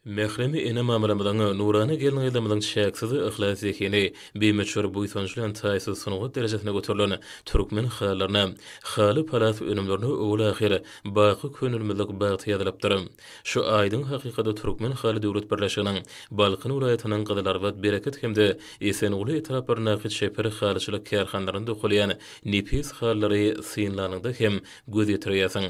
Mährem ene mamamyzyň, nurana gelin-gyzlarymyzyň çäksiz yhlas zehini, bimöçber buýsanç bilen taýsyz sungat derejesine göterilen türkmen halylaryna, haly-palas önümlerine owal-ahyr baky köňülmizlik bagt ýazylypdyr. Şu aýdyň hakykata Türkmen haly döwlet birleşiginiň Balkan welaýatynyň Gyzylarbat, Bereket hem-de Esenguly etraplaryndaky çeper halyçylyk kärhanalarynda dokalýan nepis halylary synlanyňda hem göz ýetirýärsiň.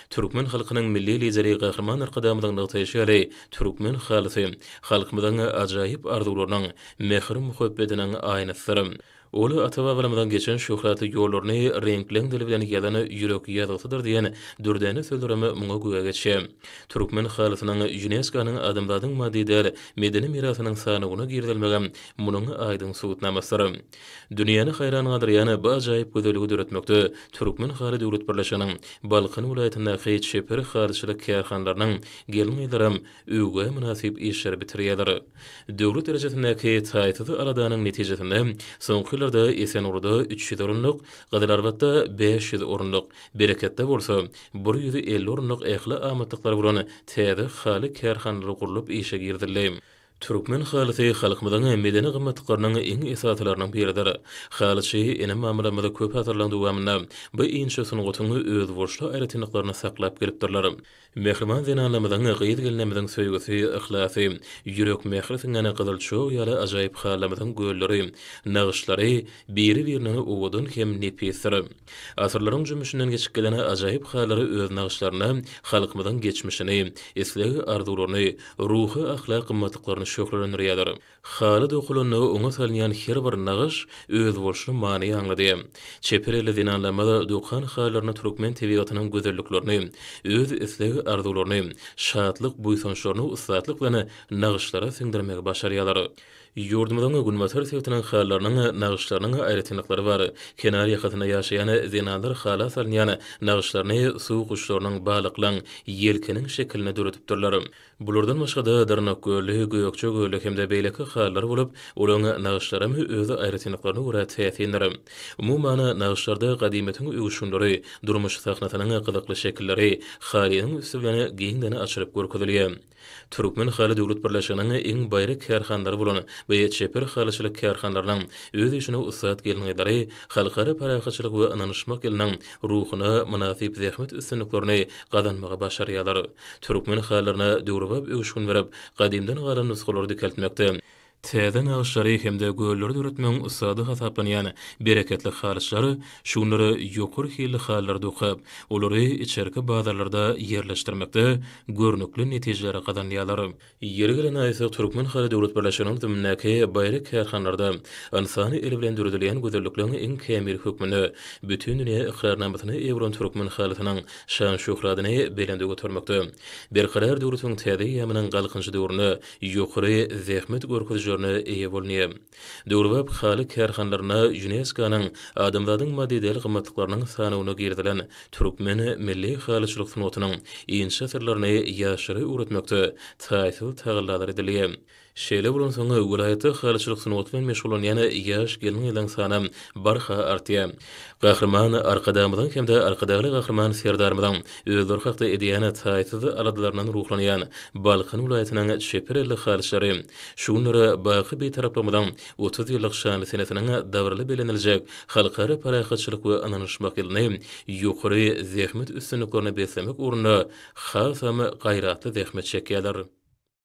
Türkmen halkynyň Milli Lideri Gahryman Arkadagymyzyň nygtaýşy ýaly, türkmen halysy, halkymyzyň ajaýyp arzuwlarynyň, mähir-muhabbetiniň aýnasydyr. Ol ata-babalarymyzyň geçen şöhratly ýollaryny reňkleň dili bilen ýazan ýürek ýazgysydyr diýen dürdäne sözlerem muňa güwä geçýär. Türkmen halysynyň Ýunesko-nyň Adamzadyň maddy däl medeni mirasynyň sanawyna girizilmegem munuň aýdyň subutnamasydyr. Dünýäni haýran galdyrýan bu ajaýyp gözelligi döretmekde Türkmen haly döwlet birleşiginiň Balkan welaýatyndaky çeper halyçylyk kärhanalarynyň gelin-gyzlaram öwgä mynasyp işleri bitirýärler. Döwlet derejesindäki taýsyz aladanyň netijesinde soňky ýyllarda Esengulyda üç ýüz orunlyk, Gyzylarbatda bäş ýüz orunlyk, Bereketde bolsa bir ýüz elli orunlyk ähli amatlyklar bolan täze haly kärhanalary gurlup işe girizildi. Türkmen halysy halkymyzyň medeni gymmatlyklarynyň iň esasylarynyň biridir. Halyçy ene-mamalarymyz köp asyrlaryň dowamynda bu inçe sungatyň özboluşly aýratynlyklaryny saklap gelipdirler. Mähriban zenanlarymyzyň, gyz-gelinlerimiziň söýgüsi, yhlasy, ýürek mähri siňen gyzyl çog ýaly ajaýyp halylarymyzyň gölleri, nagyşlary biri-birinden owadan hem nepisdir. Asyrlaryň jümmüşinden geçip gelen ajaýyp halylar öz nagyşlarynda halkymyzyň geçmişini, isleg-arzuwlaryny, ruhy-ahlak gymmatlyklaryny şöhlelendirýärler. Haly dokulanda oňa salynýan her bir nagyş özboluşly many aňladýar. Çeper elli zenanlarymyz dokan halylarynda türkmen tebigatynyň gözelliklerini, öz isleg-arzuwlaryny, şatlyk-buýsançlaryny ussatlyk bilen nagyşlara siňdirmegi başarýarlar. Ýurdumyzyň günbatar sebitiniň halylarynyň nagyşlarynyň aýratynlyklary bar. Kenar ýakasynda ýaşaýan zenanlar hala salynýan nagyşlaryny suw guşlarynyň, balyklaň, ýelkeniň şekilinde döredipdirler. Bulardan başga-da, Dyrnakgölli, Gökjegölli hem-de beýleki halylar bolup, olaryň nagyşlaram öz aýratynlyklaryna görä täsindir. Umuman, nagyşlarda gadymyýetiň öwüşginleri, durmuş sahnasynyň gyzykly şekilleri halynyň üsti bilen giňden açylyp görkezilýär. Türkmen haly döwlet birleşiginiň iň baýry kärhanalary bolan we çeper halyçylyk kärhanalarynyň öz işine ussat gelin-gyzlary Halkara parahatçylyk we ynanyşmak ýylynyň ruhuna mynasyp zähmet üstünliklerini gazanmagy başarýarlar. Türkmen halylaryna döwrebap öwüşgin berip, gadymdan galan nusgalary dikeltmekde, Täze nagyşlary hem-de gölleri döretmegiň ussady hasaplanýan bereketli halyçylar şu günler ýokary hilli halylar dokap, olary içerki bazarlarda ýerleşdirmekde görnükli netijeleri gazanýarlar. Ýeri gelende aýtsak, Türkmen haly döwlet birleşiginiň zimnindäki baýry kärhanalarda ynsany el bilen döredilýän gözellikleň iň kämili hökmünde bütin dünýä ykrarnamasyny eýe bolan türkmen halysynyň şan-şöhratyny belende götermekde, Berkarar döwletiň täze eýýamynyň Galkynyşy döwründe ýokary zähmet görkezijilerine eýe bolundy. Döwrebap haly kärhanalaryna ÝUNESKO-nyň Adamzadyň maddy däl-gymmatlyklarynyň sanawyna girizilen türkmen milli halyçylyk sungatynyň inçe asyrlaryny ýaşlara öwretmekde taýsyz tagallalar edildi. Şeýle bolansoň, welaýatda halyçylyk sungaty bilen meşgullanýan ýaş gelin-gyzlaryň sany barha artýar. Gahryman Arkadagymyzyň hem-de Arkadagly Gahryman Serdarymyzyň özleri hakda edýän taýsyz aladalaryndan ruhlanýan Balkan welaýatynyň çeper elli halyçylary şu günleri baky Bitaraplygymyzyň otuz ýyllyk şanly senesiniň dabaraly belleniljek Halkara parahatçylyk we ynanyşmak ýylyny ýokary zähmet üstünliklerine beslemek ugrunda hasam gaýratly zähmet çekýärler.